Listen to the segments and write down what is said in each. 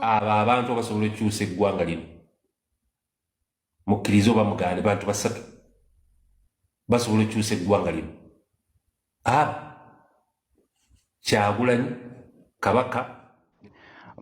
abo abantu abasobola okukyusa eggwanga lino mukkiriza oba mugaane bantu basatu basobola okukyusa eggwanga lino abo kyagulanyi kabaka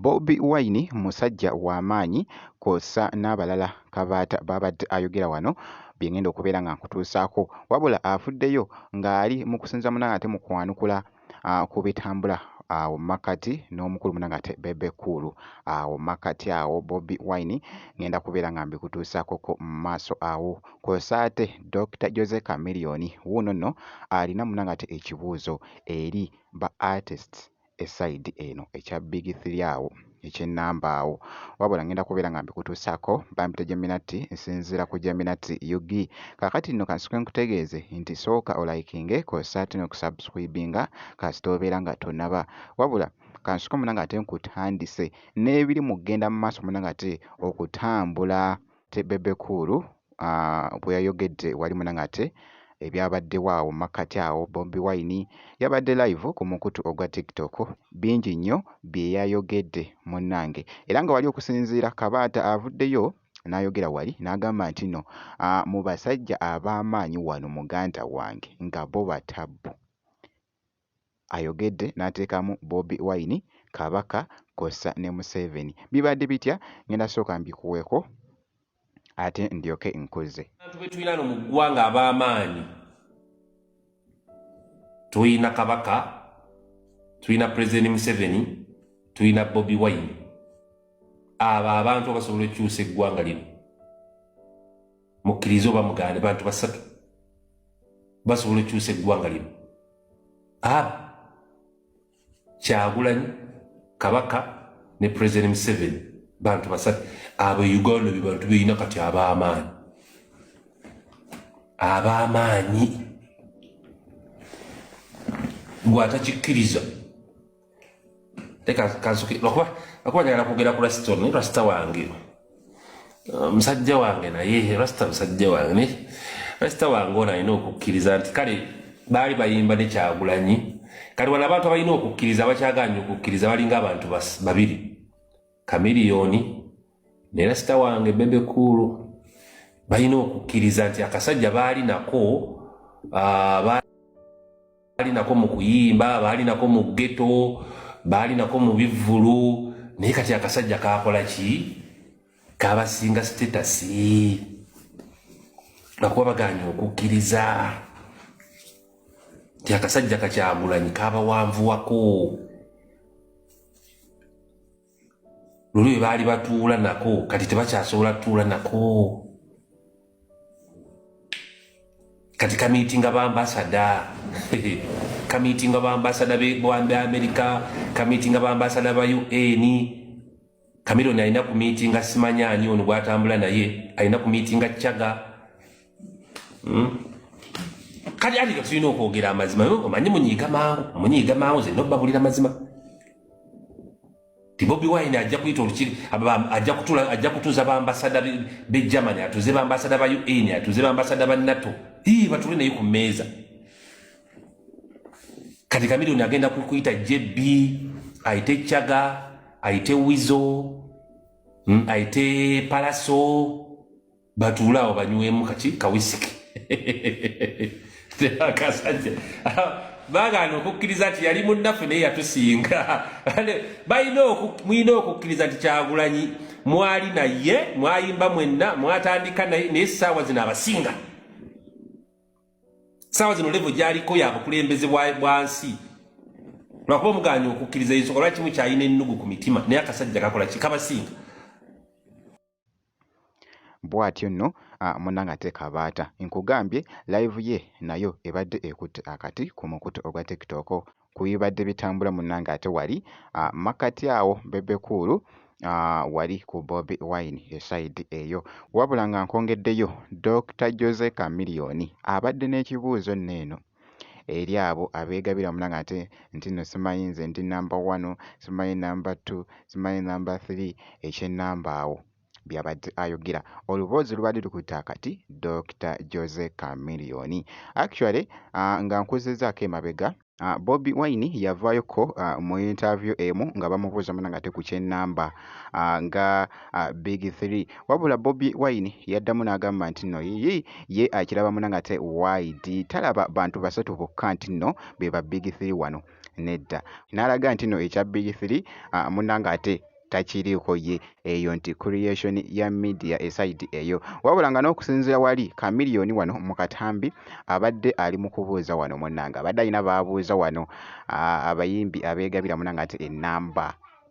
Bobi Wine musajja wa maanyi kwossa n'abalala Kabaata b'abadde ayogera wano bye ngenda okubeera nga nkutuusaako wabula avuddeyo ng'ali mu kusinza muna ng'ate mu kwanukula ku bitambula awo mu makkati n'omukulu muna ng'ate Bebe Cool awo mu makkati awo Bobi Wine ngenda kubeera nga mbikutuusaakoko mu maaso awo kwossa ate Dokita Jose Chameleone wuuno nno alina muna ng'ate ekibuuzo eri ba artists e side eno ekya big three awo ekye number awo wabula ngenda kubeera nga mbikutuusako bampita Geminati nsinziira ku Geminati UG kakati nno kansuke nkutegeeze nti sooka olayikinge kosa ate nokusubscribinga kasita obeera nga tonaba wabula kansuke munanga ate nkutandise n'ebiri mu kugenda mu maaso munanga ate okutambula Ate Bebe Cool bwe yayogedde wali muna ng'ate ebyabaddewo awo mu makkati awo, Bobi Wine yabadde live ku mukutu ogwa TikTok, bingi nnyo bye yayogedde munnange era nga wali okusinziira Kabaata avuddeyo n'ayogera wali n'agamba nti no mu basajja ab'amaanyi wano muganda wange nga bo batabbu. ayogedde n'ateekamu Bobi Wine, Kabaka kw'ossa ne Museveni. Bibadde bitya? Ngenda sooka mbikuweeko ate ndyoke nkuzze. Abantu be tulina no mu ggwanga ab'amaanyi, tulina Kabaka, tulina Pulezidenti Museveni, tulina Bobi Wine. Abo abantu abasobola okukyusa eggwanga lino. mukkirize oba mugaane bantu basatu basobola okyusa eggwanga lino abo kyagulanyi kabaka ne president museven bantu basatu abo e uganda bye bantu beyina kati ab'amaanyi ab'amaanyi gwe atakikkiriza leka kansuki lwakuba lwakuba njagala kwogera ku rasita ono rasita wange uh, musajja wange naye rasita musajja wange naye rasita wange ono alina okukkiriza nti kale baali bayimba nekyagulanyi kati wano abantu abalina okukkiriza bakyaganya okukkiriza balinga abantu babiri kamiliyoni ne rasita wange bebe kuulu balina okukkiriza nti akasajja baali nako ah, baali nako mu kuyimba baali nako mu geto baali nako mu bivvulu naye kati akasajja kakola ki kabasinga sitetasi nakuba baganye okukkiriza nti akasajja kakyagulanyi kabawanvuwako luli bwe baali batuula nako kati tebakyasobola tutuula nako kati kamiitinga bambasada kamiitinga bambasada bwambe amerika kamiitinga bambasada ba un kamironi alina ku miitinga simanya ani ono gwatambula naye alina ku miitinga caga hmm? kati ati tulina okwogera amazima omanyi munyiiga mangu munyiiga mangu ze nobabulira mazima ti bobi wine ajja kuyita olukiri ajja kutula ajja kutuza bambasada be germany atuze bambasada ba un atuze bambasada ba nato ii batule naye ku meeza kati kamilioni agenda kuyita jb ayite chaga ayite wizo hmm, ayite palaso batuule awo banywemu kaki kawisiki akasajja bagaana okukkiriza nti yali munnaffe naye yatusinga mulina okukkiriza nti kyagulanyi mwali naye mwayimba mwenna mwatandika naye naye saawa zino abasinga saawa zino levo gyaliko yabukulembeze bwansi lwakuba omuganya okukkiriza yesu olwakimu kyalina ennugu ku mitima naye akasajja kakola kikabasinga Bwatyo nno munange ate Kabaata nkugambye live ye nayo ebadde ekutte akati ku mukutu ogwa tiktok ku bibadde bitambula munange ate wali makkati awo Bebe Cool wali ku Bobi Wine e side eyo. Wabula nga nkwongeddeyo Dokita Jose Chameleone abadde n'ekibuuzo nno eno. eri abo abeegabira wamula ng'ate nti nno simanyi nze ndi nnamba wanu, simanyi nnamba ttu, simanyi nnamba ttiri, eky'ennamba awo by'abadde ayogera. Oluboozi lubadde lukutte akati Dokita Jose Chameleone. Actually ah, nga nkuzzizzaako emabega, ah, Bobi Wine yavaayokko ah, mu yintaaviyu emu nga bamubuuza munange ate ku ky'ennamba ah, nga uh, big three wabula bobi wine yaddamu n'agamba nti nno yiyi ye akiraba muna nga te wide talaba bantu basatu bokka nti nno be ba big three wano nedda n'alaga nti nno ekya big three uh, muna nga ate takiriiko ye eyo nti creation ya media esaidi eyo wabula nga n'okusinziira wali kamiliyoni wano mu katambi abadde ali mu kubuuza wano munanga abadde alina baabuuza wano abayimbi abeegabira munanga nti enamba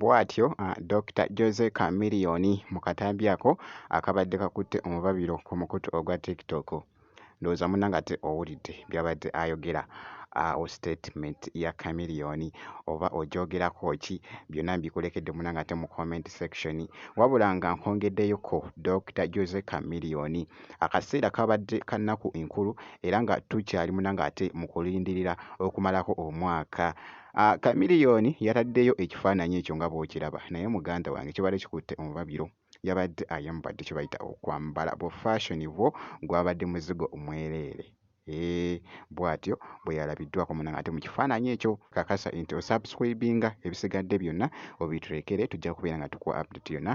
Bwatyo Dokita Jose Chameleone mu katambi ako akabadde kakutte omubabiro ku mukutu ogwa TikTok. Ndowooza munnange ate owulidde by'abadde ayogera. Awo statement ya Chameleone oba ogyogerako ki? Byonna mbikulekedde munnange ate mu comment section. Wabula nga nkwongeddeyo ko Dokita Jose Chameleone, akaseera kabadde ka nnaku nkulu era nga tukyali munnange ate mu kulindirira okumalako omwaka. Ah, Chameleone yataddeyo ekifaananyi ekyo nga bw'okiraba naye muganda wange kibadde kikutte omubabiro yabadde ayambadde kye bayita okwambala bu fashion bwo gwabadde muzigo mwereere Eh, bw'atyo bwe yalabiddwako munnange ate mu kifaananyi ekyo kakasa nti osubscribinga ebisigadde byonna obituleekere tujja kubeera nga tukuwa update yonna